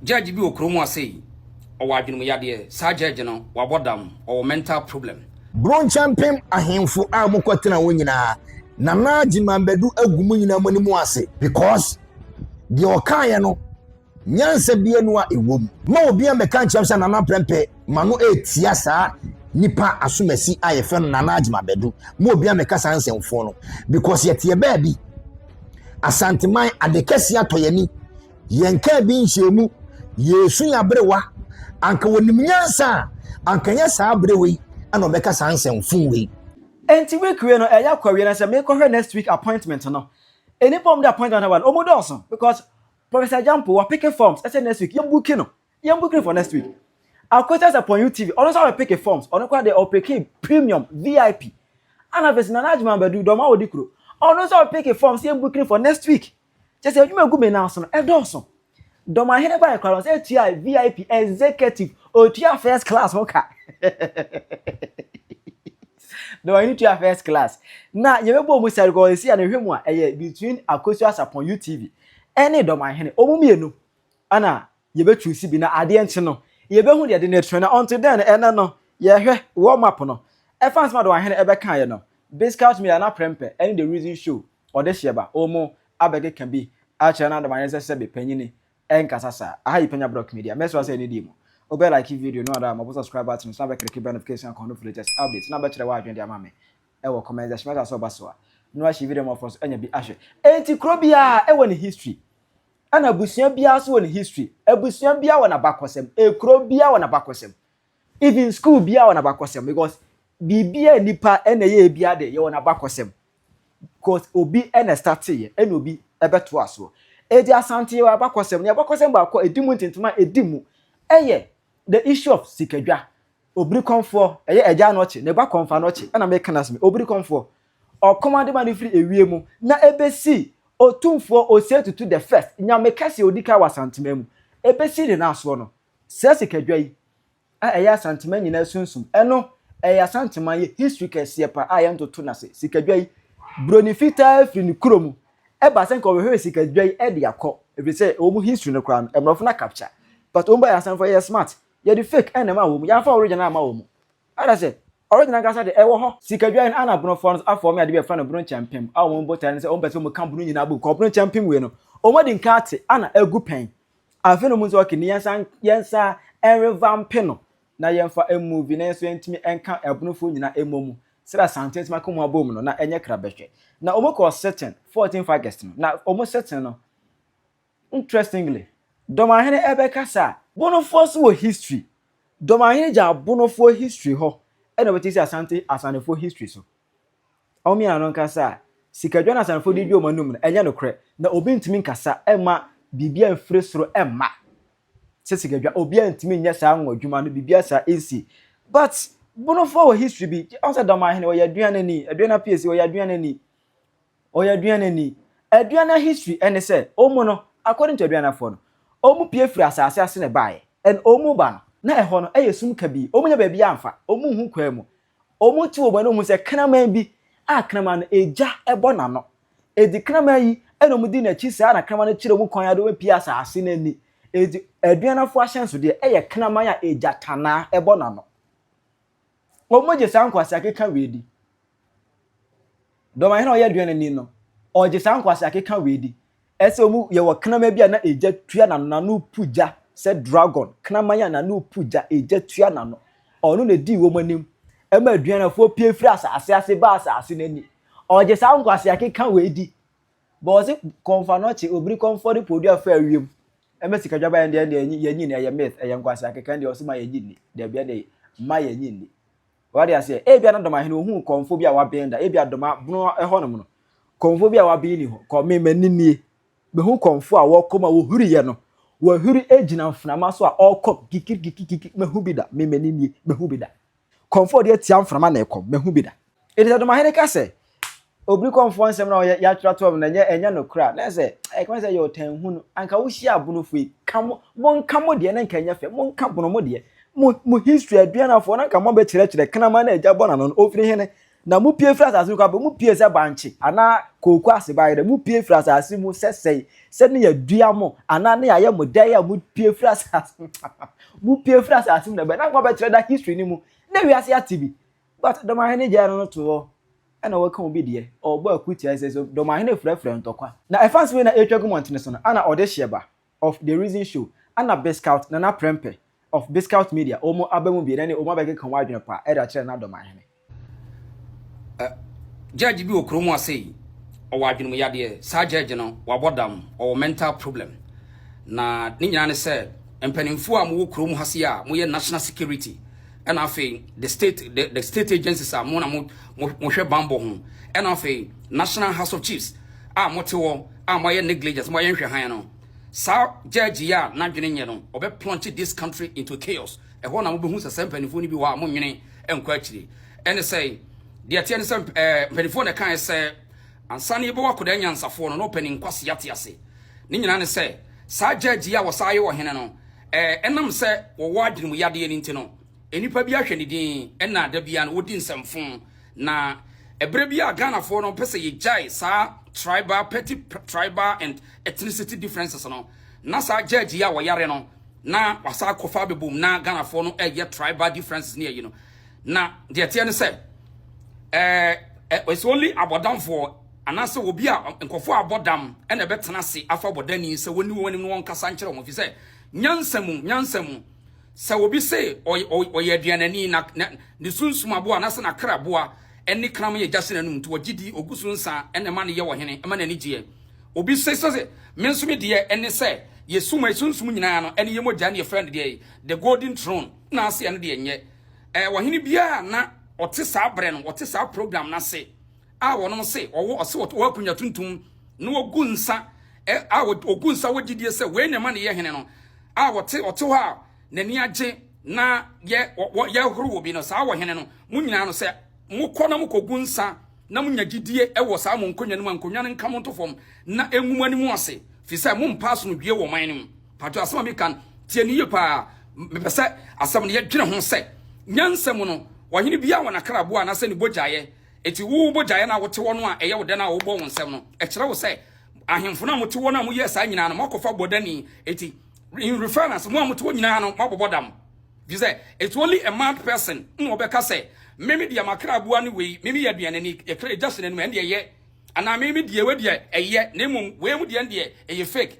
judge bi wɔ kuro mu asei ɔwɔ adwenem yadeɛ saa judge no wabɔ dam ɔwɔ mental problem. Bronkyɛmpem ahenfo a ɔmo kɔ tena hɔ nyinaa Nana Gyimah Badu agu mo nyinaa mo anim ase because deɛ ɔkaeɛ no nyansa bia nu a ɛwɔ mu. Ma obia mmɛka nkyerɛ me sɛ Nana Prɛmpɛ ma no ɛtia saa nipa asomasi a yɛfrɛ no Nana Gyimah Badu. Ma obia mmɛka saa nsɛmfoɔ no because yɛteɛ baabi Asanteman ade kɛseɛ atɔ yɛn ani. Yɛn kaa bi nhyiamu, yɛresu yɛn aberewa. Anka wɔnim nyansa a, anka ɛnyɛ saa aberewa yi na ɔbɛka saa nsɛm fuu wei. Enti week wei no ɛyɛ akɔ awie na sɛ mekɔhwɛ next week appointment no, nnipa a wɔde appointment aba no wɔn dɔɔso because Professor Agyampo wɔ peke forms ɛsɛ next week yɛn buki no, yɛn buki no for next week. Akotas Aponyu TV ɔno nso abɛ peke forms, ɔno koraa deɛ ɔpeke premium, VIP. Ana afei nso Nana Agyeman Badu, Dɔm a wɔdi kuro, ɔno nso abɛ peke forms yɛn buki no for next week. Kyerɛ sɛ adwuma gu me nan so no, ɛdɔɔso. Dɔmahene bae koraa no, sɛ etua VIP, executive, otua first class ho ka. Dɔmahene tua first class. Na yɛbɛbɔ mu sɛ rekɔɔ esi a na ɛhwɛ mu a ɛyɛ between Akosu Asapɔn UTV ɛne Dɔmahene. Wɔn mmienu ɛna Yɛbɛtu si bi na adeɛ nkye no yɛbɛhu deɛ de no atua na until then no ɛnɛ no yɛhwɛ world map no ɛfa nsɛm a Adowa hene ɛbɛkaeɛ no this caught me ɛna prɛmpɛ ɛne the reason show ɔde hyeɛ ba wɔn mu abɛkeka bi akyerɛ no Adowa hene sɛ sɛbe panyini ɛnkasa saa aha yi Panya Brock Media mɛsrɛ wo sɛ ɛne die mu wobɛ like video no ada mɔbo subscribe button no so na bɛ click bell notification icon no for latest updates na bɛkyerɛ w'adwene de ama me ɛwɔ comment section mɛsrɛ sɛ ɔba so a no ahye video ma ɔfoɔ so anya bi ahwɛ enti kuro biara ɛwɔ ne history Ɛna abusua biara nso wɔ ne history. Abusua biara wɔ n'abakɔsɛm. Ekuro biara wɔ n'abakɔsɛm. Even school biara wɔ n'abakɔsɛm because biribi a nipa na ɛyɛ biara de yɛwɔ n'abakɔsɛm. Because obi na ɛstate yɛ ɛna obi ɛbɛto asoɔ. Eti Asante yɛwɔ abakɔsɛm. Ne abakɔsɛm baako a edi mu ntentema a edi mu ɛyɛ the issue of sikadwa. Obirikɔmfoɔ, ɛyɛ Agya Anɔkye, ne ba Kɔmfo Anɔkye ɛna meka no asɛm yi. Obirikɔmfoɔ, Ɔkɔm adema no firi ɛwie mu na ɛbɛsi Otumfoɔ Osetutu the First, Nyame kɛseɛ a ɔdi kan wɔ Asanteman mu, ɛbɛsi ne naasoɔ no. Saa sikadwa yi a ɛyɛ Asanteman nyinaa sunsum, ɛno ɛyɛ Asanteman yɛ history kɛseɛ paa a yɛntoto no ase. Sikadwa yi, Broni fitaa firi ne kuro mu ɛba sɛ nka ɔbɛhwehwɛ sikadwa yi de akɔ, ɛfiri sɛ wɔn mu history no koraa no Mmorɔfo na capture, but wɔn baeɛ Asanfoɔ yɛyɛ smart, yɛde fake na ɛmaa wɔn, yɛamfa original amma wɔn. Ana sɛ original ankasa de ɛwɔ hɔ. Sikadwa yi no ana Bono foɔ no afɔ wɔn adeɛ bi a yɛfrɛ no Bono nkyɛmpem a wɔn botaeɛ ne sɛ wɔn pɛ sɛ wɔn ka Bono nyinaa bom kɔ Bono nkyɛmpem wei no wɔn adi nka ate ana agu pɛn afei na wɔn nso ok ne yɛnsan yɛnsan ɛnrevampe no na yɛnfa ɛnmuvi na yɛn nso yɛntumi ɛnka Bono foɔ nyinaa ɛmmɔ mu sɛdeɛ Asante atumi aka wɔn abom no na ɛnyɛ krabɛhwɛ na wɔn kɔɔ sitting 14th August no na wɔn sitting no Interestingly, Dɔmahene ɛbɛkasa a, Bonofoɔ nso wɔ history. Dɔmahene gyaa Bonofoɔ history hɔ ɛna ɔbɛte si Asante Asanefoɔ history so. Wɔn mmiena no nkasa a, sikadwa na Asanefoɔ de di wɔn anum no, ɛnyɛ nokorɛ. Na obi ntumi nkasa ɛma biribiara mfiri soro ɛmma sɛ sikadwa. Obiara ntumi nyɛ saa anwa adwuma no, biribiara saa ɛnsi. But Bonofoɔ wɔ history bi. Ɔsɛ Dɔmahene, ɔyɛ aduanani, aduana piesie, ɔyɛ aduanani. Ɔyɛ aduanani. Aduana history ɛne sɛ ɔmu no according to aduanafoɔ no ɔmu pie firi asaase ase na ɛbaeɛ and ɔmu ba no na ɛhɔ no ɛyɛ sum kabii ɔmu nya baabi amfa ɔmu nhu kwan mu ɔmu te wɔn ani ɔmu hu sɛ kraman bi a kraman no egya ɛbɔ n'ano enti kraman yi ɛna ɔmu di n'akyi saa na kraman no kyerɛ ɔmu kwan ade ɔmu pie asaase no ani enti aduanafoɔ ahyɛnsodeɛ ɛyɛ kraman a egya tanaa ɛbɔ n'ano. Wɔgye saa nkwaseakeka wei di. Dɔmahene a ɔyɛ aduanani no, ɔgye saa nkwaseakeka wei di. Ɛsɛ wɔn yɛwɔ kraman bi a na egya tua n'ano, n'ano pu gya sɛ dragon. Kraman a n'ano pu gya, egya tua n'ano. Ɔno na edii wɔn anim ma aduanafoɔ pue firi asase ase baa asase no ani. Ɔgye saa nkwaseakeka wei di. But ɔse kɔmfa no ɔkye obiri kɔmfɔ ne podua fa wiem ɛmɛ sika dwaban ɛndeɛ ɛndeɛ ɛnyi yɛnyi ni ɛyɛ myth ɛyɛ nkwasi akeka ɛndeɛ ɔse ma yɛnyi ni dɛbi ɛndeɛ ma yɛnyi ni wade aseɛ ebia na dɔmahene ohun kɔmfo bi a waben da ebia dɔma bono ɛhɔ nom no kɔmfo bi a waben ni hɔ kɔ me mani nie mehu kɔmfo a wɔkɔm a wɔhuri yɛ no wɔhuri egyina mfenama so a ɔkɔm kikirikikikiki mehu bi da me mani nie mehu bi da Kɔmfoɔ deɛ tia mframa na ɛkɔm, mahu bi da. Enti sɛ Domahene ka sɛ, Obiri kɔmfoɔ nsɛm no a ɔyɛ, yɛatwerɛ ato hɔ no, ɛnyɛ, ɛnyɛ nokorɛ a, na ɛsɛ sɛ, ɛkame sɛ ɛyɛ ɔtanhunu. Anka wohyia abonofo yi, ka mo, monka mo deɛ na anka ɛnyɛ fɛ, monka abono mo deɛ. Mo, mo history, Aduanafoɔ, na anka moabɛkyerɛkyerɛ, Kraman a agya bɔ n'ano no, ɔfiri hene? Na mupue mfiri asase no kwabere mu, mupue sɛ bankye anaa kooko ase bayerɛ, mupue mfiri asase mu sɛsɛe, sɛ ne yɛadua mo anaa ne yɛayɛ mo dɛn a, mupue mfiri asase no mu, mupue mfiri asase mu na bɛn, na nka wɔbɛkyerɛ da history no mu, na wiase ate bi, but Ɔdɔmahene gyae no no to hɔ, ɛna wɔka obi deɛ, ɔrebɔ akutia sɛ sɛ Ɔdɔmahene frɛfrɛ ntɔkwa. Na ɛfa nso wei na ɛretwa agu mmɔntene so no, ana ɔdehyeɛ ba, of the reason show ɛna biscout nana prɛmpɛ of biscout media wɔn aba mu bie na ne wɔn abɛkeka wɔn adwene pa ɛde akyerɛ nana dɔm ahene. Ɛ judge bi wɔ kuro mu ase yi ɔwɔ adwenem yadeɛ saa judge no wabɔ dam ɔwɔ mental problem na ne nyinaa ne sɛ mpaninfoɔ a mowɔ kuro mu ha se a moyɛ national security ɛna afei the state the, the state agencies a mo na mo mohwɛ banbɔ ho ɛna afei national house of chiefs a mote hɔ a moayɛ negligence, moayɛ nhwɛ hann no, saa judge yi a n'adwene nyɛ no, ɔbɛ plunge this country into chaos. Ɛhɔ na mobɛhu sɛ saa mpanimfoɔ no bi wɔ hɔ a monnwene nkɔ akyire. Ɛne sɛ, deɛ ɛteɛ ne sɛ eh, mpanimfoɔ na ɛkaeɛ sɛ ansa na yɛbɛwɔ akwadaa nyansafoɔ no na ɔpɛ ne nkwasi ate ase. Ne nyinaa ne sɛ saa judge yi a wɔsaa yɛ ɔhene no, eh, ɛnam sɛ wɔwɔ adwenem yadeɛ no nti no, nnipa bi ahwɛ ne din ɛna da biara no wɔdi nsɛmfo. Na ɛberɛ bi a Ghanafoɔ no pɛ sɛ yɛgyae saa tribal, petty tribal and ethnicity differences no, na saa judge yi a wɔyare no, na wasan akɔfa abɛbom na Ghanafoɔ no ɛyɛ tribal differences ne ayi no. Na deɛ teɛ ne sɛ, ɛɛ, eh, eh, it's only abɔdamfoɔ anaasɛ obi a nkɔfoɔ a abɔ dam ɛna ɛbɛtena ase afa bɔdani sɛ wɔni wɔn anim no wɔn kasa nkyerɛ wɔn fi sɛ nyansa mu nyansa mu Sɛ obi se ɔyɛ aduanani na ne sunsum aboa anaasɛ n'akra aboa ne kraman yɛ gya hyɛ n'anom nti ɔgye di, ɔgu so nsa na ɛma no yɛ ɔhene, ɛma n'ani gyeɛ. Obi se sɛ me nso me deɛ ne sɛ yɛ suma, sunsum nyinaa no ne yɛ mogya ne yɛfrɛ no deɛ the golden throne na ase ɛno deɛ nyɛ ɔhene biara na ɔte saa berɛ no, ɔte saa program no ase. a wɔnom se wɔwɔ ɔse wɔwɔ akonya tuntum na wɔgu nsa a wɔgu nsa wɔ gyidie sɛ wei na ɛma ne yɛ hene no a wɔte ɔte hɔ a n'ani agye na yɛ yɛhoro wɔ bi no saa wɔ hene no mo nyinaa no sɛ mokɔ na mokɔgu nsa na monya gyidie wɔ saa mo nkonnwa no mu a nkonnwa no nka mo nto fam na ɛngu mo anim ase firi sɛ mompa asomdwie wɔ man no mu pato asɛm a meka tie no yie paa mepɛ sɛ asɛm no yɛdwene ho sɛ nyansa mu no ɔhene biara wɔ n'akraboa anaasɛ ne bogyaeɛ Enti wo bogyayɛ no a wote hɔ no a ɛyɛ wo dɛ no a wobɔ wo nsam no, ɛkyerɛ wo sɛ ahemfo no a mote hɔ no a moyɛɛ saa nyinaa no, moakɔfa bɔdani. Enti, in reference, mo a mote hɔ nyinaa no, moabobɔ dam. Gye sɛ, it's only a mad person na ɔbɛka sɛ, Me me deɛ m'akra aboa ne wei, me meyɛ aduanani, ɛkra ɛgya hyɛ n'anim, ɛndeɛ ɛyɛ. Anaa me me deɛ wei deɛ ɛyɛ, na mmom wei mu deɛ ɛndeɛ ɛyɛ fake.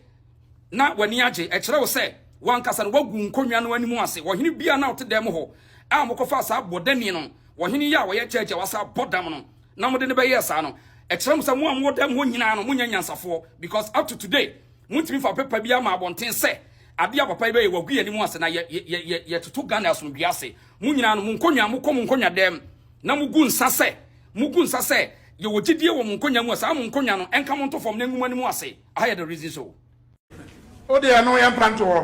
na w'ani agye. Ɛkyerɛ wo sɛ w'ankasa no woagu nkonnwa no anim ase. Ɔhene biara na ɔte dan mu hɔ a mokɔfaa saa bɔdamie no, ɔhene yi a ɔyɛ judge a wasa abɔ dam no, na mode no bɛyɛɛ saa no, ɛkyerɛ mo sɛ mo a mowɔ dan mu hɔ nyinaa no, monyɛ anyansafoɔ. Because up to today, montumi mfa paper biara mma abɔnten sɛ adeɛ a papa yi bɛyɛ, wagu yɛn anim ase na yɛtoto Ghana asomdwoeɛ ase. Mo nyinaa no, mo nkonnwa, mokɔ mo nkonnwa dan mu na mogu nsa sɛ, mogu nsa sɛ yɛwɔ gyidie wɔ mo nkonnwa mu a saa mo nkonnwa no nka mo nto fam na ɛngu mo anim ase. I had a reason so. O deɛ no yɛ mpa nto hɔ.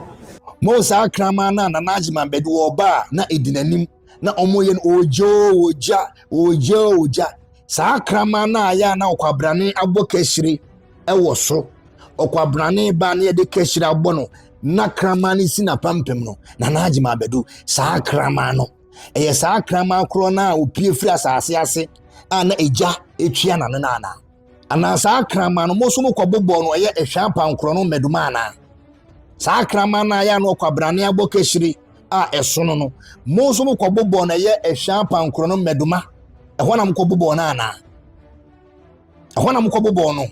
Mo saa kraman no a Nana Agyeman bɛde wɔba a na ɛdi n'anim na wɔyɛ no ogya o ogya ogya o ogya saa kraman no a yɛ a na ɔkwabrane abɔ kahyire wɔ so ɔkwabrane ba na yɛde kahyire abɔ no na kraman no si n'apampam no Nana Agyeman bɛdu saa kraman no ɛyɛ saa kraman korɔ no a opie firi asase ase a na egya etua n'ano no anaa Anaa saa kraman no mo so mo kɔ bobɔ no ɛyɛ ehwɛ apankorɔ no mmaduma anaa saa kraman no a yɛ ano ɔkɔ abrane abɔ kɛhyire a ɛsono no mo nso mo kɔ bobɔ no ɛyɛ ehwɛ apankorɔ no mmaduma ɛhɔ na mo kɔ bobɔ no anaa ɛhɔ na mo kɔ bobɔ no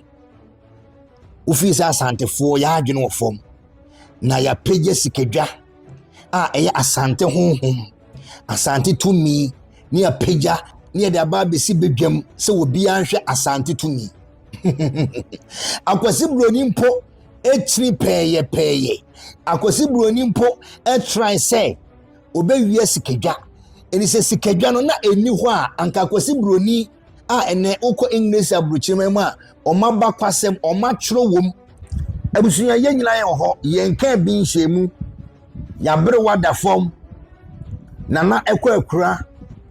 wofii sɛ asantefoɔ yɛ adwene wɔ fam na yɛapɛgya sikadwa a ɛyɛ asante honhom Asante tumi ne apagya ne yɛde aba abɛsi badwam sɛ obiara nhwɛ asante tumi. Akwasi Buroni mpo ɛkyiri pɛɛyɛpɛɛyɛ. Akwasi Buroni mpo ɛtrae sɛ ɔbɛwia sikadwa. Ɛni sɛ sikadwa no na ɛni hɔ a anka Akwasi Buroni a ɛnɛ wokɔ English aburukyerɛma mu a wɔn abakwasɛm wɔn atwerɛ wɔ mu. Abusua yɛn nyinaa yɛn wɔ hɔ yɛn kaa bi nhyɛn mu. Y'aberewa da fɔm, Nana Ɛkwɛkura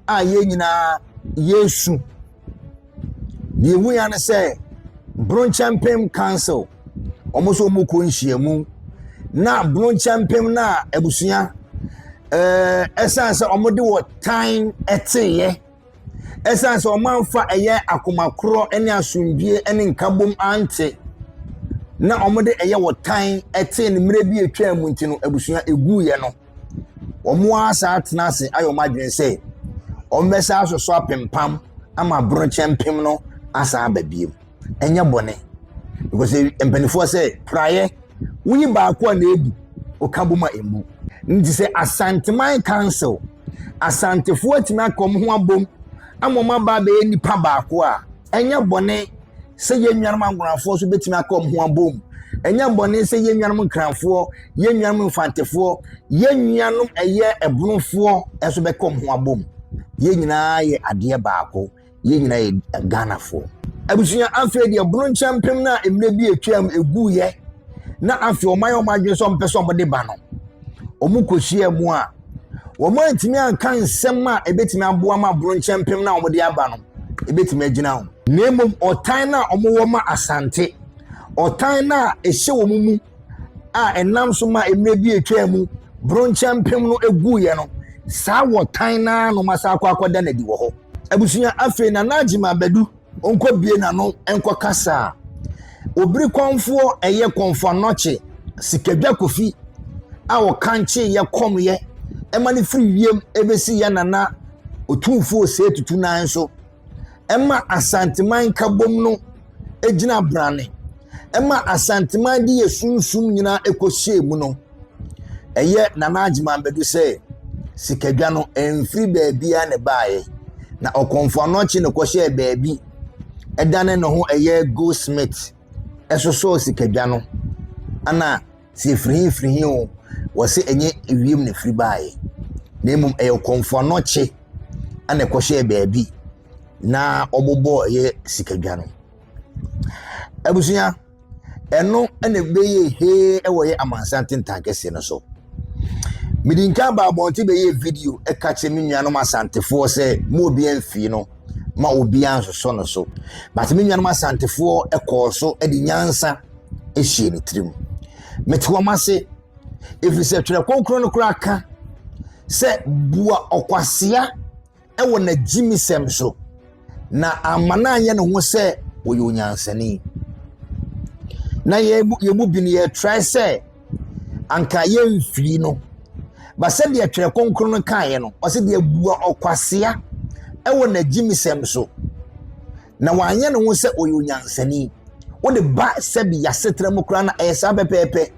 a yɛn nyinaa yɛresu. Deɛ ɛmu ya ne sɛ Bronkyɛmpem Council, wɔn nso wɔn kɔ nhyiamu na Bronkyɛmpem no a abusua ɛɛ ɛsan sɛ wɔde wɔ tan ɛteeɛ. Esiane sɛ wɔamfa ɛyɛ akoma korɔ ne asomdwoe ne nkabom ante na wɔde ɛyɛ ɔtan tee no mmere bi a etwaam mu nti no, abusua eguiɛ no, wɔasan atena ase ayɛ wɔn adwene sɛ wɔbɛsan asosɔ apempam ama borokyɛ mpem no asan aba bio. ɛnyɛ bɔne because mpanimfoɔ sɛ praeɛ woyi baako a na ebu ɔka bɔ mu a emu nti sɛ asanteman council asantefoɔ atumi aka wɔn ho abom ama wɔn aba abɛyɛ nipa baako a ɛnyɛ bɔne sɛ yɛn nuanom ankorafoɔ nso betumi aka wɔn ho abom ɛnyɛ bɔne sɛ yɛn nuanom nkranfoɔ yɛn nuanom mfantefoɔ yɛn nuanom ɛyɛ ɛbonofoɔ nso bɛka wɔn ho abom yɛn nyinaa yɛ adeɛ baako. yɛn nyinaa yɛ ghanafoɔ abusua afei deɛ bono nkyɛn mpem no a mmerɛ bi atwam ɛguiɛ na afei wɔn ayɛ wɔn adwene sɛ wɔn pɛ sɛ wɔn de ba no wɔn kɔhyia mu a wɔn antumi anka nsɛm a ɛbɛtumi aboa ma bono nkyɛn mpem no a wɔn de aba no ɛbɛtumi agyina ho na mmom ɔtan no a wɔn wɔ ma asante ɔtan no a ɛhyɛ wɔn mu a ɛnam so ma mmerɛ bi atwaa mu bronkyɛ mpem no guiɛ no saa wɔtan no ara no ma saa akɔ akɔda no adi wɔ hɔ abusua afei na n'agyima abɛdu ɔnkɔ bie n'ano nkɔ kasa a obiri kɔnfoɔ ɛyɛ kɔnfo anɔkye sikadwa kofi a ɔkankye yɛ kɔm yɛ ɛma no firi wiem ɛbɛsi yɛ nana otumfoɔ sɛ tutu nan so ɛma Asanteman Nkabom no gyina brane, ɛma Asanteman de yɛ sunsum nyinaa ɛkɔhyɛɛ mu no, ɛyɛ Nana Agyeman Badu sɛ sikadwa no ɛmfiri baabiara na ɛbaeɛ. Na ɔkɔmfo anɔkye na ɛkɔhyɛɛ baabi ɛdane ne ho ɛyɛ goldsmith ɛsosɔɔ sikadwa no. Ana Sɛ ɛfiri he firi he o, wɔse ɛnyɛ ewiem na ɛfiri baeɛ na mmom ɛyɛ ɔkɔmfoɔ anɔkye ana ɛkɔhyɛɛ baabi na ɔbobɔɔ ɛyɛ sikadwa no abusua ɛno ɛna ɛbɛyɛ hee ɛwɔ yɛ amansan tentan kɛseɛ no so mede nka aba abɔnten bɛyɛ video ɛka kyerɛ me nuanom asantefoɔ sɛ mo obiara mfii no ma obiara nsosɔ no so but me nuanom asantefoɔ ɛkɔɔ so ɛde nyansa hyɛɛ ne tirim. Mete wɔn ase, ɛfiri sɛ Twerɛ Kronkron no koraa ka sɛ, Bua ɔkwasea wɔ n'agyimisɛm so, na amma no anyɛ ne ho sɛ ɔyɛ onyansani. Na yɛn mu yɛn mu bi no yɛtrae sɛ anka yɛmfiri no. Ba sɛdeɛ Twerɛ Kronkron no kaeɛ no, ɔsɛ deɛ bua ɔkwasea wɔ n'agyimisɛm so, na wanyɛ ne ho sɛ ɔyɛ onyansani wode ba sɛbi yɛasetena mu koraa na ɛyɛ saa pɛpɛɛpɛ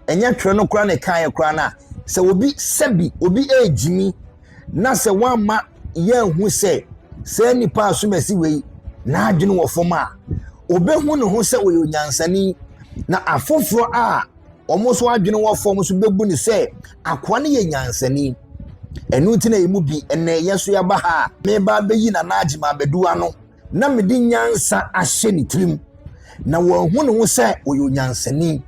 ɛnyɛ twerɛ no koraa na ɛkaeɛ koraa no a sɛ obi sɛbi obi ɛregyimi na sɛ woamma yɛahu sɛ saa nipa a somasi wei n'adwene wɔ fam a ɔbɛhu ne ho sɛ ɔyɛ onyansani na afoforɔ a Wɔn nso adwene wɔ fam nso bɛbu no sɛ akoa no yɛ nyansani. Ɛno nti na ɛmu bi ɛnɛ yɛ nso yɛaba ha a meba abɛyi Nana Agyeman abɛdu ano na mede nyansa ahyɛ ne tirim na wɔahu ne ho sɛ ɔyɛ onyansani.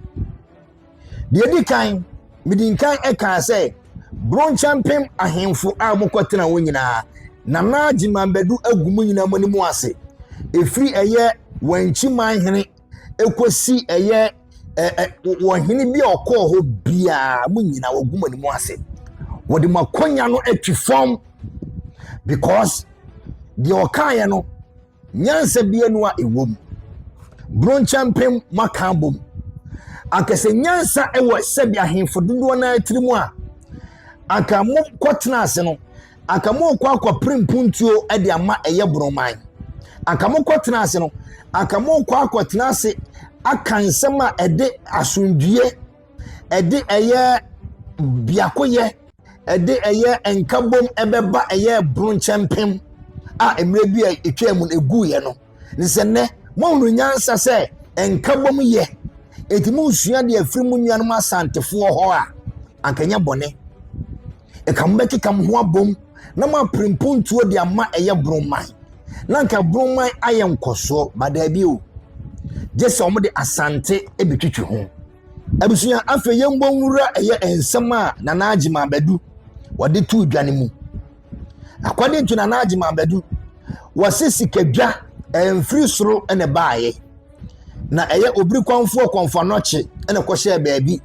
Deɛ ɛdi kan, mede nkan ɛkaa sɛ Bronkyɛmpem ahemfo a wɔkɔtena hɔ nyinaa Nana Agyeman Badu agu mu nyinaa mu anim ase. Ɛfiri ɛyɛ Wankyiman hene ɛkɔsi ɛyɛ wɔ hene bi a ɔkɔɔ hɔ biara mo nyinaa wɔgu mo anim ase wɔde mo akɔnya no atwi fam because deɛ ɔkaeɛ no nyansa bi anu a ɛwɔ mu bronkyɛmpem moaka abom anka sɛ nyansa wɔ sɛbi ahemfo dodoɔ no atiri mu a anka mokɔtena ase no anka morekɔ akɔpere mpuntuo de ama ɛyɛ boroman anka mokɔ tena ase no anka morekɔ akɔtena ase aka nsɛm a ɛde asomdwie ɛde ɛyɛ biakoyɛ ɛde ɛyɛ nkabom ɛbɛba ɛyɛ bronkyɛmpem a mmerɛ bi a ɛtwa mu no ɛguiɛ no ne sɛ nnɛ moahunu nyansa sɛ nkabom yɛ ɛti mosua deɛ afiri mu nuanom asantefoɔ hɔ a anka nyɛ bɔne Nka mobɛkeka mo ho abom na moapere mpontuo de ama ɛyɛ boroman na nka boroman ayɛ nkɔsoɔ ba daabi o gye sɛ wɔde asante bɛtwitwi ho abusua afei yɛmbɔ nwura ɛyɛ nsɛm a nana agyema abadu wɔde to dwa no mu according to nana agyema abadu wɔse sikadwa ɛmfiri soro ne baeɛ na ɛyɛ obiri kwanfoɔ kɔnfanɔkye na ɛkɔhyɛɛ baabi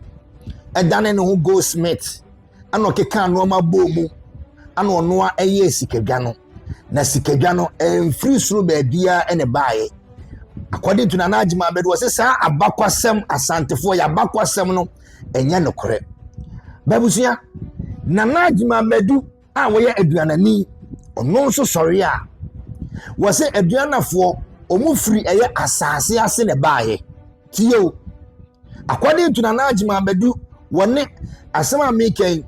ɛdane ne ho goldsmith ɛna ɔkekaa nneɛma bɔɔ mu ɛna ɔno a ɛyɛɛ sikadwa no na sikadwa no ɛmfiri soro baabiara ɛna ɛbaeɛ according to nana adwuma abɛdo ɔsɛ saa abakwasɛm asantefoɔ yɛ abakwasɛm no ɛnyɛ nokorɛ babusua nana adwuma abɛdu a wɔyɛ aduanani ɔno nso sɔre a wɔsɛ aduanafoɔ wɔn firi ɛyɛ asaase ase na ɛbaeɛ. Tie o. According to Nana Agyeman Badu, wɔne asɛm a meka yi,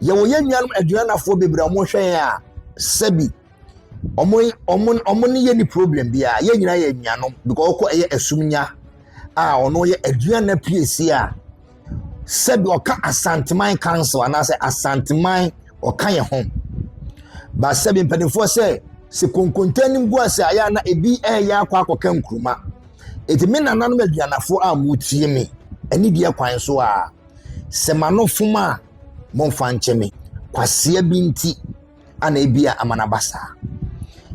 yɛwɔ yɛn nuanom aduanafoɔ bebree a wɔhwɛ yɛn a sɛbi wɔn wɔn wɔn ne yɛn ni problem biara yɛn nyinaa yɛ nuanom because wɔkɔ ɛyɛ asumnya a ɔno yɛ aduana piesie a sɛdeɛ ɔka Asanteman Council anaasɛ Asanteman ɔka yɛ ho ba sɛ bi mpanimfoɔ sɛ sɛ konkonte anim gu ase a yɛ a na ebi ɛreyɛ akɔ akɔka nkuruma eti me nananom aduanafoɔ a mo tie me ɛne deɛ kwan so a sɛ ma no fom a mo nfa nkyɛ me kwasia bi nti. ana ebia ama no aba saa.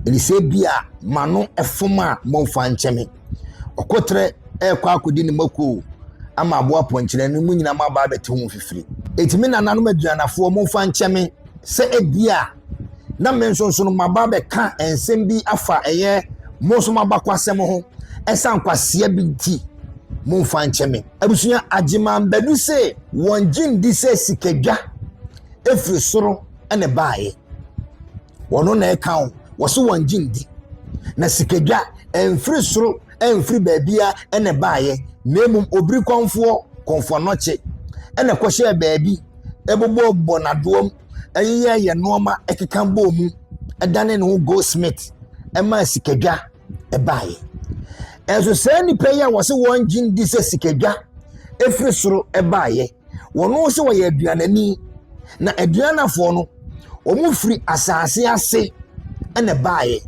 Ɛne sɛ ebia m'ano fom a momfa nkyɛ me. Ɔkoterɛ rekɔ akɔdi ne mako ama aboa pɔnkyerɛ no mu nyinaa maba abɛte ho fifiri. Enti me nananom aduanafoɔ momfa nkyɛ me sɛ ebia na me nso nso no maba abɛka nsɛm bi afa ɛyɛ mo nso m'abakwasɛm ho ɛsan kwaseɛ bi nti momfa nkyɛ me. Abusua Agyeman Badu se wɔn gye ndi sɛ sikadwa efiri soro. na ɛbaeɛ. Wɔno na ɛka wo. Wɔso wɔn gye ndi. Na sikadwa ɛmfiri soro ɛmfiri baabia na ɛbaeɛ. Na mmom obiri kɔnfoɔ, kɔnfoɔ nɔkye, ɛna ɛkɔhyɛɛ baabi, ɛbobɔbɔ n'adoɔm, ɛyeyɛyɛ nnoɔma ɛkeka bɔɔ mu, ɛdane ne ho goldsmith, ɛmaa sikadwa. baeɛ. Nanso saa nnipa yi a wɔse wɔn gye di sɛ sikadwa efiri soro baeɛ, wɔn nso wɔyɛ aduanani. Na aduanafoɔ no, wɔn firi asaase ase na baeɛ.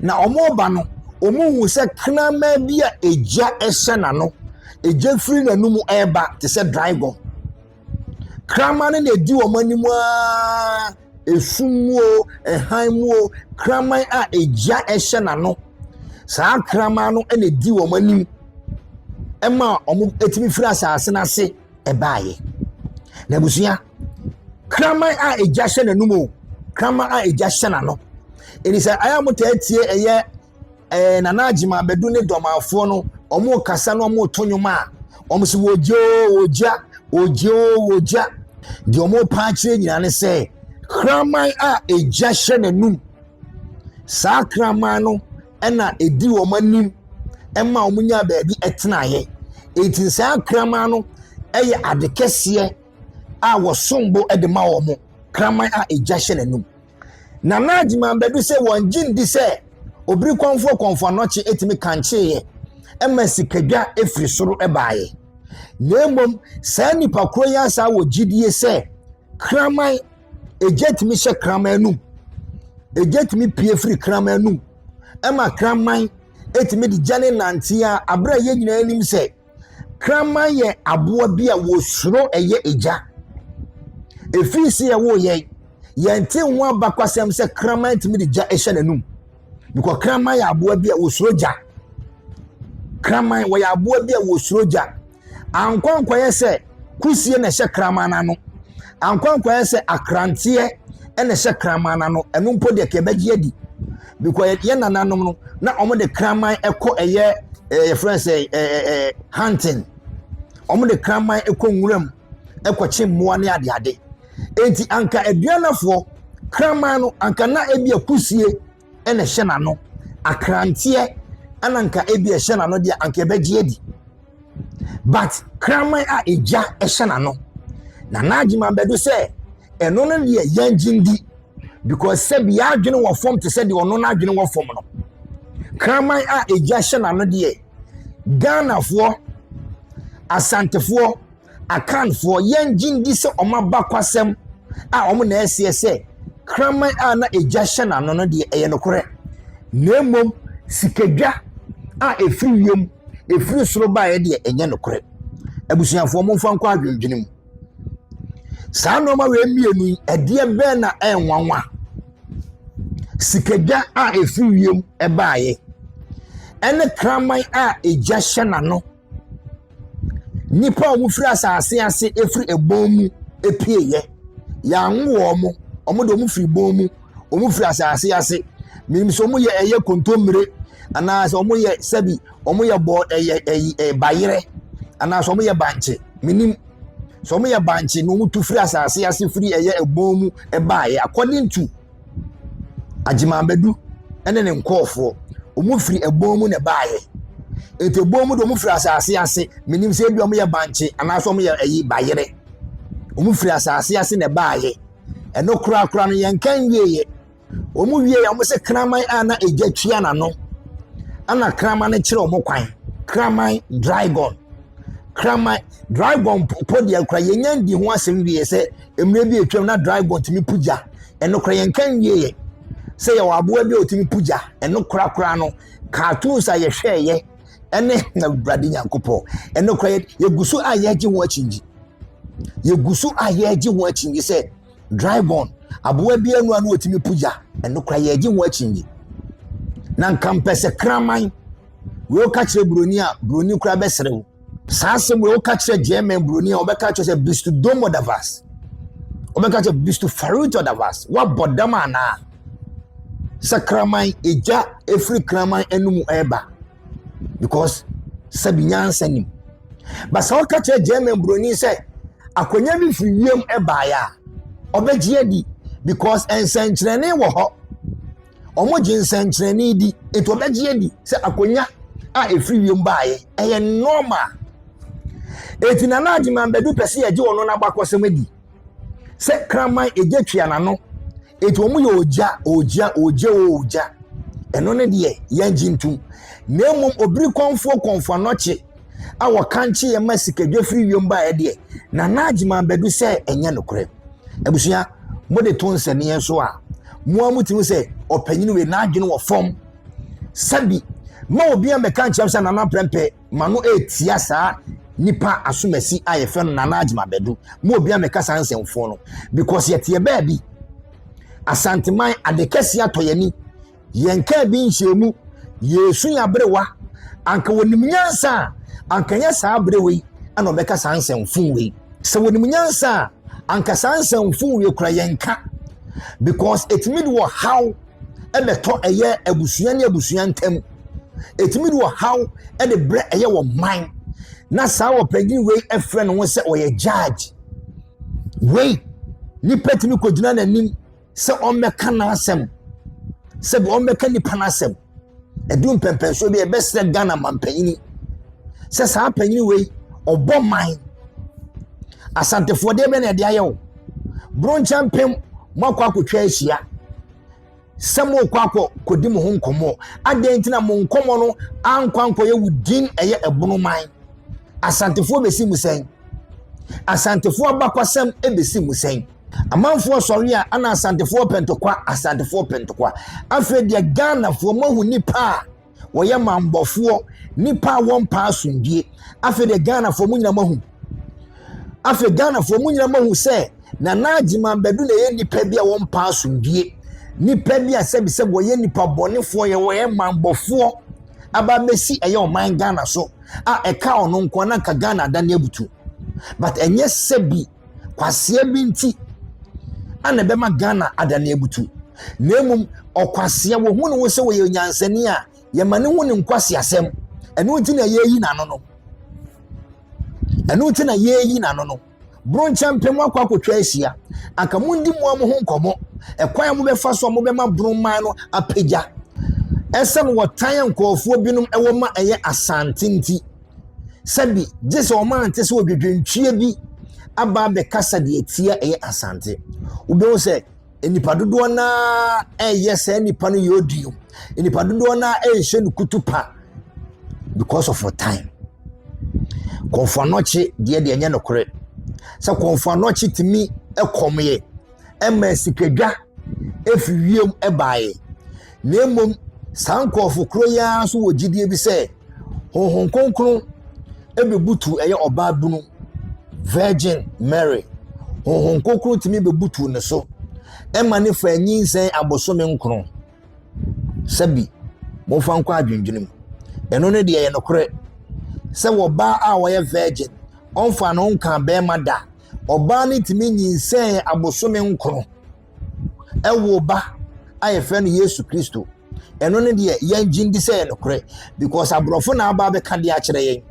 Na wɔn ba no, wɔn hu sɛ kraman bi a egya hyɛ n'ano, egya firi n'anum ɛreba te sɛ dragon. Kraman no na edi wɔn anim ara, esum mu o, hann mu o, kraman a egya hyɛ n'ano. Saa kraman no na edi wɔn anim ma wɔtumi firi asase no ase baeɛ. Na abusua, kraman a egya hyɛ n'anom o, kraman a egya hyɛ n'ano. Enti sɛ ɛyɛ a motaa tie ɛyɛ. ɛɛ eh, Nana Agyeman abɛdu ne dɔmanfoɔ no wɔrekasa na wɔreto nnwom a wɔn so wɔgye o wɔgya wɔgye o wɔgya deɛ wɔrepa akyerɛ nyinaa ne sɛ kraman a ɛgya hyɛ n'anum saa kraman no ɛna ɛdi wɔn anim ɛma wɔn nya baabi ɛtenaeɛ eti saa kraman no ɛyɛ ade kɛseɛ a wɔsom bo ɛde ma wɔn kraman a ɛgya hyɛ n'anum. Nana Agyemang Badu sɛ wɔn gye ndi sɛ obiri kɔnfoɔ kɔnfoɔ anɔkye etumi kankyeeɛ ɛma sikadwa efiri soro ɛbaeɛ. Na mmom saa nipa koro yi asaa wɔ gyidie sɛ kraman egya tumi hyɛ kraman anum. Egya tumi pie firi kraman anum ɛma kraman etumi de gya ne nanteɛ a abere a yɛn nyinaa nim sɛ Kraman yɛ aboa bi a wɔsuro ɛyɛ egya. Ɛfiri sɛ yɛwoo yɛn, yɛnte ho abakɔsɛm sɛ kraman tumi de gya hyɛ n'anum. Because kraman yɛ aboa bi a wɔsuro gya. Kraman wɔyɛ aboa bi a wɔsuro gya. Ankwankwaeɛ sɛ kusie na ɛhyɛ kraman n'ano. Ankwankwaeɛ sɛ akranteɛ na ɛhyɛ kraman n'ano. Ɛno mpo deɛ kɛbɛgye adi. because yɛn nananom no na wɔn de kraman kɔ ɛyɛ ɛɛ yɛfrɛ sɛ ɛɛ ɛɛ hunting wɔn de kraman kɔ nwuram kɔkye mmoa ne adeade eti anka aduanafoɔ kraman no anka na ebi akusie ɛna ɛhyɛ n'ano akranteɛ ɛna anka ebi ɛhyɛ n'ano deɛ anka ɛbɛgye adi. but kraman a egya hyɛ n'ano na n'adwuma bɛdo sɛ ɛno no deɛ yɛngye ndi because sɛbi y'adwene wɔ fam te sɛ deɛ ɔno n'adwene wɔ fam no kraman a egya hyɛ n'ano deɛ ghanafoɔ asantefoɔ Akanfoɔ, yɛn gye ndi sɛ wɔn abakwasɛm a wɔn na ɛseɛ sɛ kraman a na egya hyɛ n'ano no deɛ ɛyɛ nokorɛ, na mmom sikadwa a ɛfiri wiem, ɛfiri soro baeɛ deɛ ɛnyɛ nokorɛ. Abusuafoɔ, momfa nkɔ adwendwene mu. Saa nnoɔma wei mmienu yi, ɛdeɛ bɛn na ɛnwanwa? Sikadwa a ɛfiri wiem baeɛ ɛne kraman a egya hyɛ n'ano Nnipa a wɔfiri asase ase firi ɛbɔn mu pueɛ. Yɛanwo wɔn. Wɔn deɛ wɔfiri bɔn mu. Wɔfiri asase ase. Menim sɛ wɔyɛ ɛyɛ kontommire anaasɛ wɔyɛ sɛbi wɔyɛ bɔ ɛyɛ ɛyi ɛ bayerɛ anaasɛ wɔyɛ bankye. Menim. Sɛ wɔyɛ bankye na wɔtu firi asase ase firi ɛyɛ ɛbɔn mu baeɛ a according to. Agyemambadu ne ne nkorɔfoɔ, wɔfiri ɛbɔn mu na ɛbaeɛ. Nti ɛbɔn mu deɛ wɔfiri asase ase. Menim sɛ ebia wɔyɛ bankye anaasɛ wɔyɛ ayi bayerɛ. Wɔfiri asase ase na ɛbaeɛ. Ɛno korakora no, yɛnka nwieeɛ. Wɔwieeɛ a, wɔse kraman a na egya tua n'ano, ɛna kraman no kyerɛ wɔn kwan. Kraman, dragon. Kraman, dragon mpo deɛ koraa yɛnnya nnii ho asɛm wie sɛ. Mmerɛ bi a atwam na dragon tumi po gya. Ɛnokorɛ yɛnka nwieɛ sɛ yɛwɔ aboa bi a ɔtumi po gya. Ɛno korakora no, cartoons a yɛhwɛeɛ ɛne Awurade Nyankopɔn. Ɛnokorɛ yɛgu so a yɛregye ho akyingye. Yɛgu so a yɛregye ho akyingye sɛ dragon, aboa bi anu ano ɔtumi po gya. Ɛnokorɛ yɛregye ho akyingye. Na nka mpɛ sɛ kraman, wei ɔka kyerɛ buroni a, buroni koraa bɛserew. Saa asɛm wei woka kyerɛ German buroni a ɔbɛka kyerɛ sɛ bist dom oder was? Ɔbɛka kyerɛ bist verrückt oder was? Woabɔ dam anaa? Sɛ kraman egya efiri kraman anum ɛreba because sɛbi nyansa nim. Basa woka kyerɛ German buroni sɛ akonnwa bi firi wiem ɛbaeɛ a ɔbɛgye adi because nsɛnkyerɛnne wɔ hɔ wɔgye nsɛnkyerɛnne di nti wɔbɛgye adi sɛ akonnwa a ɛfiri wiem baeɛ ɛyɛ normal ɛti na na agye mambɛdu pɛ sɛ yɛgye wɔn no abakɔsɛm adi sɛ kraman ɛgya tua n'ano ɛti wɔn yɛ ogya ogya ogya ogya ɛno ne deɛ yɛngye ntom na mmom obiri kɔnfoɔ kɔnfoɔ anɔkye a wɔkankye yɛn ma sikadwa firi wiem baeɛ deɛ nana agyeman bɛdu sɛ ɛnyɛ nokorɛ abusua mode to nsɛnneɛ so a mo a motumi sɛ ɔpanyin wei n'adwene wɔ fam sɛbi ma obi a mɛka nkyɛn sɛ nana pɛmpɛ ma no etia saa nipa asomasi a yɛfɛ no nana agyeman bɛdu mo obi a mɛka saa nsɛmfoɔ no because yɛteɛ baabi asanteman adekɛse atɔ yɛn ni. Yɛnkaa bi nhyiamu, yɛresu yɛn aberewa. Anka wɔnim nyansa a, anka ɛnyɛ saa aberewa yi na ɔbɛka saa nsɛm fun wei. Sɛ wɔnim nyansa a, anka saa nsɛm fun wei kora yɛnka. Because ɛtumi de ɔhaw ɛbɛtɔ ɛyɛ abusua ne abusua ntam. Ɛtumi de ɔhaw ɛde brɛ ɛyɛ wɔ man. Na saa ɔpanyin wei ɛfrɛ ne ho sɛ ɔyɛ judge. Wei, nipa tumi kɔgyina n'anim sɛ ɔmmɛka n'asɛm sɛbi ɔmmɛka nipa n'asɛm ɛdu mpɛmpɛnsoɔ bi ɛbɛsrɛ ghana mampanyini sɛ saa panyini wei ɔbɔ man asantefoɔ deɛ bɛ na ɛde ayɛ wo bronkyɛn mpem moakɔ akɔtwa ahyia sɛ morekɔ akɔ kɔdi mo ho nkɔmmɔ adɛn nti na mo nkɔmmɔ no ankɔ ankɔyɛ wo din ɛyɛ ɛbono man asantefoɔ bɛsi mu sɛn asantefoɔ abakɔsɛm ɛbɛsi mu sɛn Amanfoɔ sɔre a ana asantefoɔ pɛntokwa asantefoɔ pɛntokwa afei deɛ ghanafoɔ moahu nipa a wɔyɛ mambɔfoɔ nipa a wɔmpa asomdue afei deɛ ghanafoɔ mo nyina moahu afei ghanafoɔ mo nyina moahu sɛ nana agyima bɛdu na ɛyɛ nipa bi a wɔmpa asomdue nipa bi a sɛbisɛbi wɔyɛ nipa bɔnefoɔ yɛ wɔyɛ mambɔfoɔ aba bɛsi ɛyɛ ɔman ghana so a ɛka ɔno nko na nka ghana adane abutu but ɛnyɛ sɛbi kwasea bi nti na ɛbɛma Ghana adane abutu. Na mmom ɔkwasea wɔhu ne ho sɛ wɔyɛ nyansani a yɛma ne ho ne nkwaseasɛm. Ɛno nti na yɛreyi n'ano no. Ɛno nti na yɛreyi n'ano no. Bronkyɛmpem akɔ akɔtwa ahyia. Anka mondi mu a mo ho nkɔmmɔ. Ɛkwan a mobɛfa so a mobɛma Bronman no apagya. Ɛsɛn wɔtan a nkurɔfoɔ binom ɛwɔ ma ɛyɛ asante nti. sɛbi gye sɛ wɔn ante sɛ odwodwontwie bi aba abɛkasa deɛ ɛtia ɛyɛ asante wobɛhu sɛ nnipa dodoɔ no ara ɛreyɛ saa nnipa no yɛ odi no nnipa dodoɔ no ara ɛrehyɛ no kutu pa because of time kɔnfɔanɔkye deɛ deɛ ɛnyɛ nokorɛ sɛ kɔnfɔanɔkye tumi ɛkɔmeɛ ɛma asikadwa efi wiem baeɛ. Na mmom saa nkorɔfo korɔ yi ara nso wɔ gyidie bi sɛ honhom kronkron bɛbutu ɛyɛ ɔbaa bunu virgin Mary honhom kronkron tumi bɛbutu ne so ɛma ne fa nyinsɛn abosome nkron sɛbi mofa nkɔ adwendwene mu ɛno ne deɛ yɛ nokorɛ sɛ wɔ baa a wɔyɛ virgin ɔnfa no nka bɛrima da Ɔbaa no tumi nyinsɛn abosome nkron ɛwoo ba a yɛfrɛ no Yesu Kristo. Ɛno no deɛ yɛn gye ndi sɛ yɛ nokorɛ because aborɔfo na aba abɛka de akyerɛ yɛn.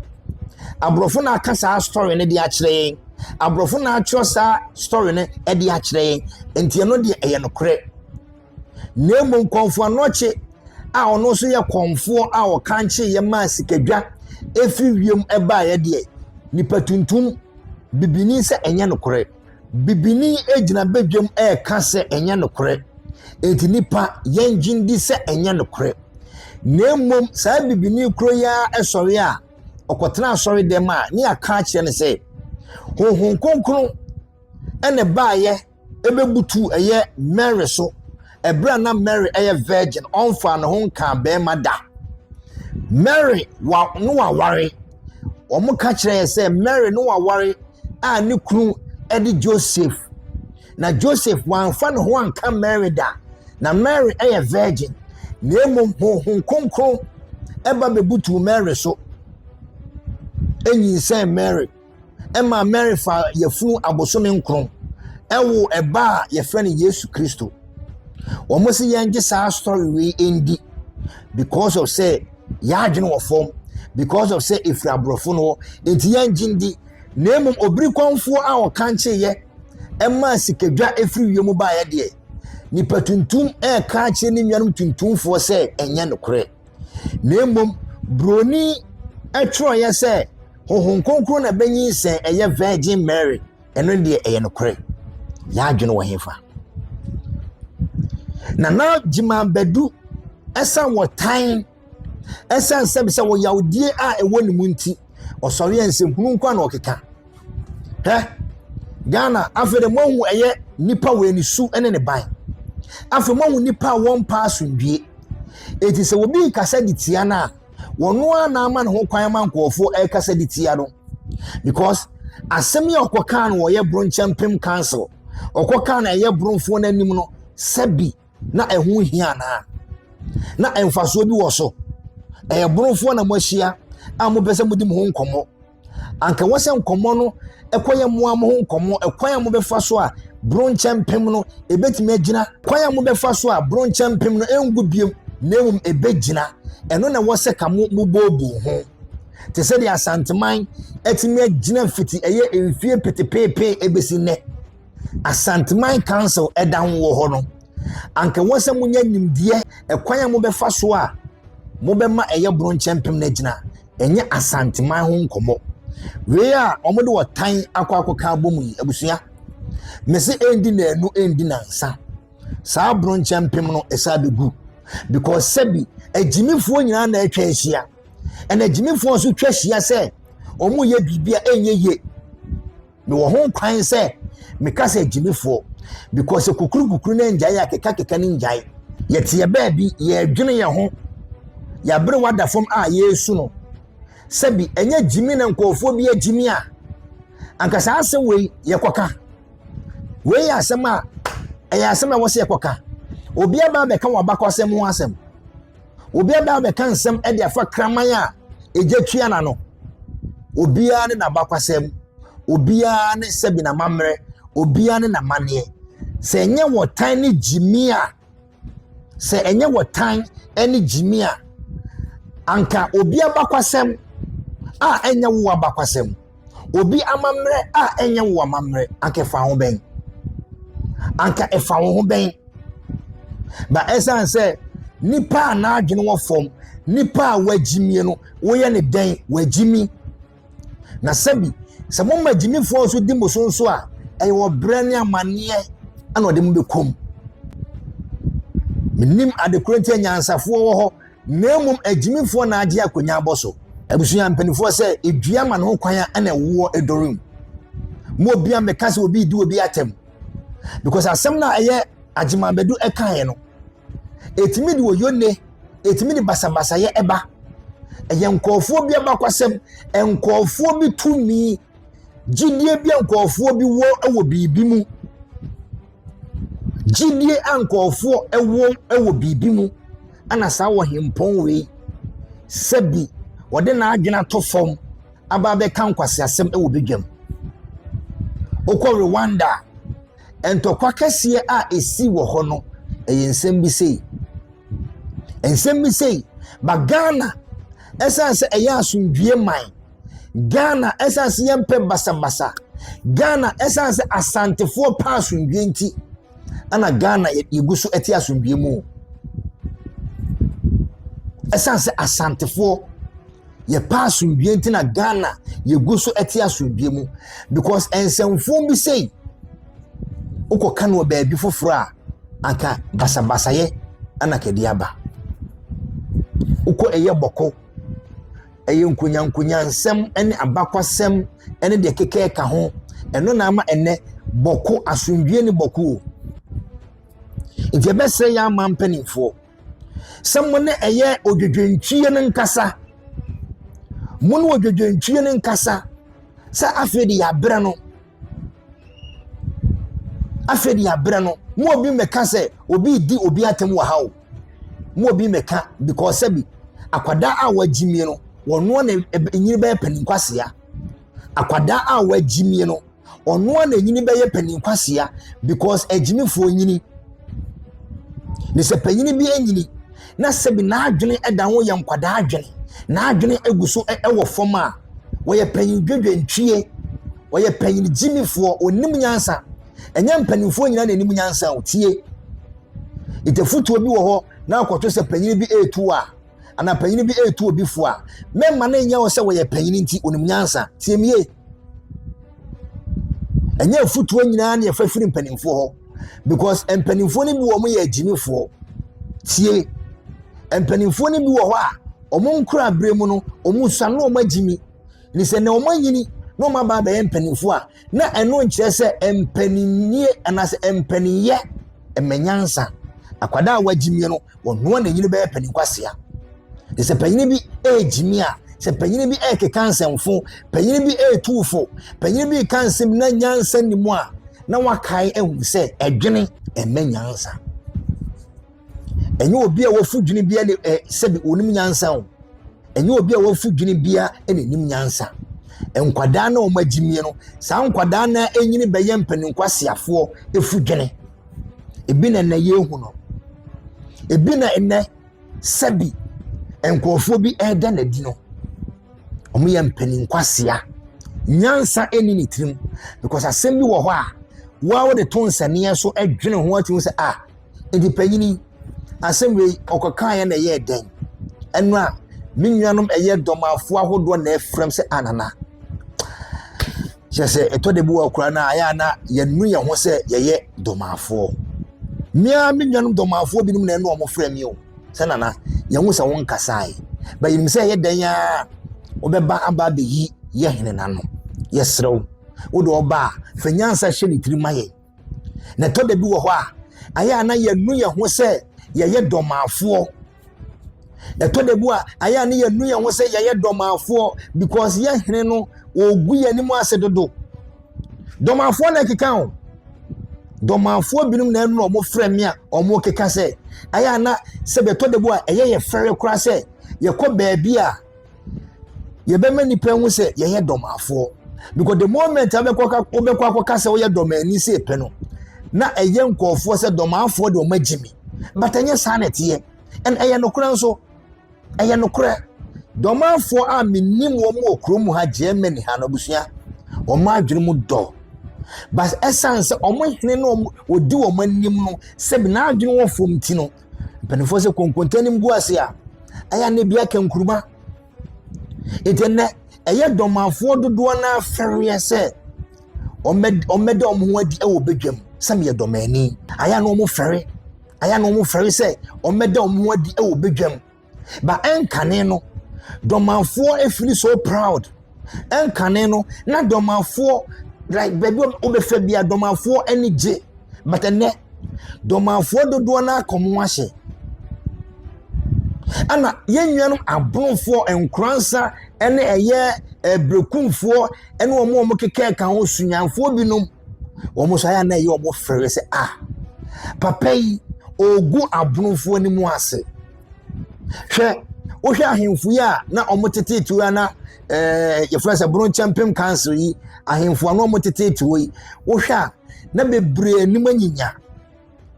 Aborɔfo na aka saa story no de akyerɛ yɛn. Aborɔfo na atwerɛ saa story no de akyerɛ yɛn. Nti ɛno deɛ ɛyɛ nokorɛ. na mmom Kɔmfo Anokye a ɔno nso yɛ kɔmfoɔ a ɔkankyeeɛ maa sikadwa ɛfiri wiem ɛbaeɛ deɛ nipa tuntum bibini sɛ ɛnyɛ nokorɛ bibini gyina badwam ɛreka sɛ ɛnyɛ nokorɛ enti nipa yɛn gyen di sɛ ɛnyɛ nokorɛ na mmom saa bibini kuro yi ara ɛsɔre a ɔkɔtena asɔre dɛm a ne aka akyerɛ no sɛ honhom kronkron ɛna baayɛ bɛbutuu ɛyɛ Mary so. Ɛberɛ a na Mary yɛ virgin, ɔmfaa ne ho nkaa barima da. Mary wa ne waware. Wɔka kyerɛ yɛn sɛ Mary ne waware a ne kunu de Joseph. Na Joseph wamfa ne ho anka Mary da. Na Mary yɛ virgin. Na mmom honhom kronkron ɛba bɛbutuu Mary so. Ɛnyinsɛn Mary. ɛma Mary fa yafunu abosome nkron ɛwoo ɛba a yɛfrɛ no Yesu Kristo. Wɔn si yɛn gye saa story wei ndi because of sɛ yɛadwene wɔ fam because of sɛ efiri aborɔfo no hɔ nti yɛn gye ndi na emom obiri kɔnfoɔ a ɔkankye yɛ ɛma sikadwa efiri wiem baayɛ deɛ nipa tuntum ɛɛka akyerɛ ne nuanom tuntumfoɔ sɛ ɛnyɛ nokorɛ. na mmom buroni twerɛeɛ sɛ honhom kronkron na bɛnyinsɛn ɛyɛ virgin mary ɛno deɛ ɛyɛ nokorɛ yɛ adwene wɔ hefa na na gyima bɛdu ɛsan wɔ tan ɛsan sɛ sɛ wɔ yawdie a ɛwɔ ne mu nti ɔsɔre a nsɛmhunu nko a na ɔkeka hɛ Ghana afei de moahu ɛyɛ nipa wɔ ne su ne ne ban afei moahu nipa a wɔn mpa asomdwie eti sɛ obi rekasa de tia no a wɔn ara na ama ne ho kwan ma nkurɔfoɔ ɛrekasa de tia no because asɛm yi a ɔkɔ kaa no wɔyɛ bronkyɛn pem council ɔkɔ kaa no ɛyɛ bronfoɔ no anim no sɛbi na ɛho hia anaa na mfasoɔ bi wɔ so ɛyɛ bronfoɔ na moahyia a mopɛ sɛ modi mo ho nkɔmmɔ. anka ɛwɔ sɛ nkɔmmɔ no ɛkɔyɛ mo a mo ho nkɔmmɔ ɛkwan a mobɛfa so a boro nkyɛ mpem no ɛbɛtumi agyina kwan a mobɛfa so a boro nkyɛ mpem no ɛngu biom na mmom ɛbɛgyina ɛno na ɛwɔ sɛ ka mo mobɔɔboo ho te sɛ deɛ asanteman atumi agyina mfiti ɛyɛ mfie petepeepee ɛbɛsi nnɛ asanteman council ɛda ho wɔ hɔ no anka ɛwɔ sɛ monya nimdeɛ ɛkwan a mobɛfa so a mobɛma ɛyɛ boro nkyɛ mpem no agyina ɛnyɛ Asanteman ho nkɔmmɔ. Wei a wɔde ɔtan akɔ akɔka abom yi, abusua, mese ɛndi naanu ɛndi nansa. Saa bronkyɛ mpem no ɛsɛ abɛgu because sɛbi agyimifoɔ nyinaa na atwa ahyia ɛna agyimifoɔ nso twa ahyia sɛ wɔyɛ biribi a ɛnyɛ yie. mewɔ ho kwan sɛ meka sɛ gyimifoɔ because sɛ kukurukukuru no ngyae a kekakeka no ngyae yɛteɛ baabi yɛredwene yɛn ho yɛabere wada fam a yɛresu no sɛbi ɛnyɛ gyimi na nkurɔfoɔ bi agyimi a anka saa asɛm wei yɛkɔka wei yɛ asɛm a ɛyɛ asɛm a ɛwɔ sɛ yɛkɔka obi aba abɛka wɔn abakɔsɛm ho asɛm Obi aba abɛka nsɛm de afa kraman a egya tua na no. Obiara ne n'abakwasɛm, obiara ne sɛbi n'amammerɛ, obiara ne n'amanneɛ. Sɛ ɛnyɛ wɔtan ne gyimi a, sɛ ɛnyɛ wɔtan ne gyimi a, anka obi abakwasɛm a ɛnyɛ wo abakwasɛm. obi amammerɛ a ɛnyɛ wo amammerɛ anka ɛfa ho bɛn anka ɛfa wo ho bɛn ba ɛsiane sɛ nipa a n'adwene wɔ fam nipa a wagyimie no woyɛ ne dɛn wagyimi na sɛbi sɛ mo ma gyimifoɔ nso di mo so nso a ɛyɛ ɔbrɛ ne amanneɛ ɛna ɔde mo bɛkɔm menim adekorɔ nti anyansafoɔ wɔ hɔ na mmom agyimifoɔ na agye akonnwa abɔ so. Abusua mpanimfoɔ sɛ edua ma no ho kwan a ɛna ɛwoɔ ɛdɔre mu. Mo obia mmɛka sɛ obi di obi atɛm because asɛm no a ɛyɛ agyemabɛdu ɛkaeɛ no ɛtumi de oyone ɛtumi de basabasayɛ ɛba ɛyɛ nkɔɔfoɔ bi abakwasɛm nkɔɔfoɔ bi tumi gyidie bi nkɔɔfoɔ bi wɔ ɛwɔ biribi mu Gyedie a nkurɔfoɔ wɔ wɔ biribi mu na saa ɔhempɔn wei sɛ bi ɔde n'adwene ato fam aba abɛka nkwaseasɛm wɔ badwam. Wokɔ Rwanda a, ntɔkwa kɛseɛ a ɛsii wɔ hɔ no, ɛyɛ nsɛm bi sei. Nsɛm bi sei, ba Ghana, ɛsiane sɛ ɛyɛ asomdwoeɛ man, Ghana ɛsiane sɛ yɛmpɛ basabasa Ghana ɛsiane sɛ asantefoɔ pɛ asomdwoeɛ nti ɛna Ghana yɛgu so ɛte asomdwoeɛ mu ɛsiane sɛ asantefoɔ yɛpɛ asomdwoeɛ nti na Ghana yɛgu so ɛte asomdwoeɛ mu because nsɛmfoɔ bi sei wokɔka no wɔ baabi foforɔ a anka basabasayɛ ɛna kɛde aba wokɔ ɛyɛ bɔkɔ Ɛyɛ nkonyankonyansɛm ne abakwasɛm ne deɛ ɛkeka ɛka ho. Ɛno na ama ɛnɛ bɔko asomdwoeɛ ne bɔko o. Nti ɛbɛsrɛ yɛ ama mpanimfoɔ sɛ mo ne ɛyɛ odwodwontwie no nkasa. Mo ne odwodwontwie no nkasa sɛ afei de yɛabrɛ no. Afei de abrɛ no mu obi mmɛka sɛ obi redi obi atɛm wɔ ha o. Mu obi mmɛka because sɛbi akwadaa a wɔagye mie no wɔnoa na enyini bɛyɛ panin kwasea. Akwadaa a wɔagye mie no ɔnoa na enyini bɛyɛ panin kwasea because agyimifoɔ nyini. Na sɛ panin bi nyini. na sɛbi n'adwene da ho yɛ nkwadaa adwene n'adwene gu so wɔ fam a wɔyɛ panyin dwedwentwie wɔyɛ panyin gyimifoɔ onim nyansa ɛnyɛ mpanimfoɔ nyinaa na anim nyansa o tie ntafutuo bi wɔ hɔ na akɔto sɛ panyin bi retu a anaa panyin bi retu obi fo a mɛma no nyɛ wɔ sɛ wɔyɛ panyin nti onim nyansa tie mie ɛnyɛ afutuo nyinaa na yɛfa firi mpanimfoɔ hɔ because mpanimfoɔ no bi wɔn yɛ agyimifoɔ tie mpanimfoɔ no bi wɔ hɔ a wɔn nkura bere mu no wɔn sua no wɔn agyimi ne sɛ na wɔn anyini na wɔn aba abɛyɛ mpanimfoɔ a na ɛno nkyerɛ sɛ mpaninnie anaasɛ mpaninyɛ mmanyansa akwadaa a wɔagyimie no wɔn noa na nyini bɛyɛ paninkwasia ne sɛ panyin bi ɛregyimi a sɛ panyin bi ɛrekeka nsɛmfo panyin bi ɛretu fo panyin bi reka nsɛm na nyansa nni mu a. na wakae ahu sɛ ɛdwene ɛmɛ nyansa ɛnyɛ obi a wafu dwene bia ne ɛ sɛbi onim nyansa o ɛnyɛ obi a wafu dwene bia na enim nyansa nkwadaa na wɔn agyi mie no saa nkwadaa na enyini bɛyɛ mpanyinkwasiafoɔ efu dwene ebi na ɛnɛ yɛn hu no ebi na ɛnɛ. sɛbi nkurɔfoɔ bi reda no adi no, wɔyɛ mpanin kwasea. Nyansa nni ne tirim because asɛm bi wɔ hɔ a, wo ara wode to nsɛnneɛ so dwene ho atumi sɛ a, ah, nti panyini asɛm wei ɔkɔkaeɛ na ɛyɛɛ dɛn? Ɛno a, me nuanom ɛyɛ dɔmafoɔ ahodoɔ na ɛfrɛm sɛ anana. Ah, Kyerɛ sɛ ɛtɔ da bi wɔ akora no a ɛyɛ a na yɛnu yɛn ho sɛ yɛyɛ dɔmafoɔ. Mmea me nuanom dɔmafoɔ binom na ɛne wɔn frɛ me o sɛ nana yɛn ho sɛ wɔn nkasae bɛyim sɛ ɛyɛ dɛn a wɔbɛba aba abɛyi yɛ hene n'ano yɛserɛw wode ɔba a fa nyansa hyɛ ne tiri ma yɛn Na ɛtɔ da bi wɔ hɔ a, ayɛ a na yɛnu yɛn ho sɛ yɛyɛ dɔmaafoɔ. Ɛtɔ da bi a, ayɛ a na yɛnu yɛn ho sɛ yɛyɛ dɔmaafoɔ because yɛhene no ɔregu yɛn anim ase dodo. Dɔmaafoɔ na ɛkeka o. Dɔmaafoɔ binom na ɛnu wɔn frɛ me a wɔkeka sɛ, ayɛ a na sɛ ɛtɔ da bi a ɛyɛ yɛ fɛre koraa sɛ yɛkɔ baabi a, yɛbɛma nipa ehu sɛ yɛyɛ dɔmafoɔ because the moment abɛkɔ wobɛkɔ akɔka sɛ woyɛ dɔmani sɛ epɛ no na ɛyɛ nkɔɔfoɔ sɛ dɔmafoɔ de wɔn agye mi but ɛnyɛ saa na ɛteɛ ɛn ɛyɛ nokorɛ nso ɛyɛ nokorɛ dɔmafoɔ a menim wɔn wɔ kurom ha germany ha no abusua wɔn adwene mu dɔ but ɛsan sɛ wɔn hene no wɔdi wɔn anim no sɛ n'adwene wɔ fam ti no Mpanimfoɔ sɛ konkonte no gu ase a, ɛyɛ na ebi aka nkuruma. Eti nnɛ, ɛyɛ dɔmafoɔ dodoɔ no afɛreɛ sɛ wɔmmɛda wɔn ho adi wɔ badwam sɛ meyɛ dɔmani. Ayɛ na wɔfɛre, ayɛ na wɔfɛre sɛ wɔmmɛda wɔn ho adi wɔ badwam. Ba ɛnkane no, dɔmanfoɔ ɛfili so proud. Ɛnkane no, na dɔmanfoɔ like baabi wobɛfa bia dɔmanfoɔ ani gye. But ɛnɛ, dɔmanfoɔ dodoɔ no akɔ mo ahyɛ. Ɛna yɛn nuanom abronfoɔ nkoransa ɛne ɛyɛ ɛbrekumfoɔ ɛne wɔn a wɔkeka ɛka ho sunyanfoɔ binom. Wɔn nso ayɛ a na ɛyɛ wɔn fɛrɛ sɛ a papa yi ɔregu abonofoɔ anim ase. Hwɛ wohwɛ ahemfo yi a na wɔn tete tuo na ɛɛ eh, yɛfrɛ sɛ bronkyɛmpem council yi ahemfo a na wɔn tete tuo yi wohwɛ a na bebree anim anyinya.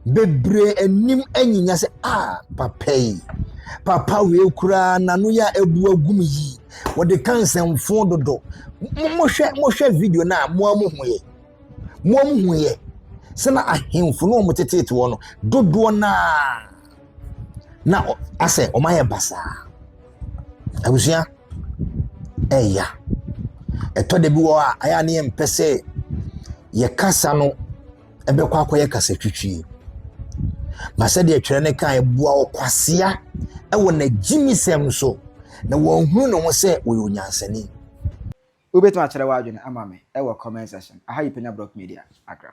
Bebree anim anyinya sɛ, Ah, papa yi, papa wei koraa n'ano yɛ a abu agum yi, wɔde ka nsɛmfo dodo. Mohwɛ mohwɛ video no a moa mo hu yɛ. Moa mo hu yɛ sɛ na ahemfo no wɔn teteete wɔ no dodoɔ naa na asɛ wɔn ayɛ basaa. Abusua ɛya. Ɛtɔ da bi wɔ a ayɛ a ne yɛmpɛ sɛ yɛkasa no ɛbɛkɔ akɔyɛ kasatwitwie ma sɛdeɛ twerɛ no kan boa ɔkwasea wɔ n'agyimisɛm so na wɔnhunu ne ho sɛ wɔyɛ onyansani wobɛtumi akyerɛ w'adwene ama me wɔ comment section aha yi panya block media agram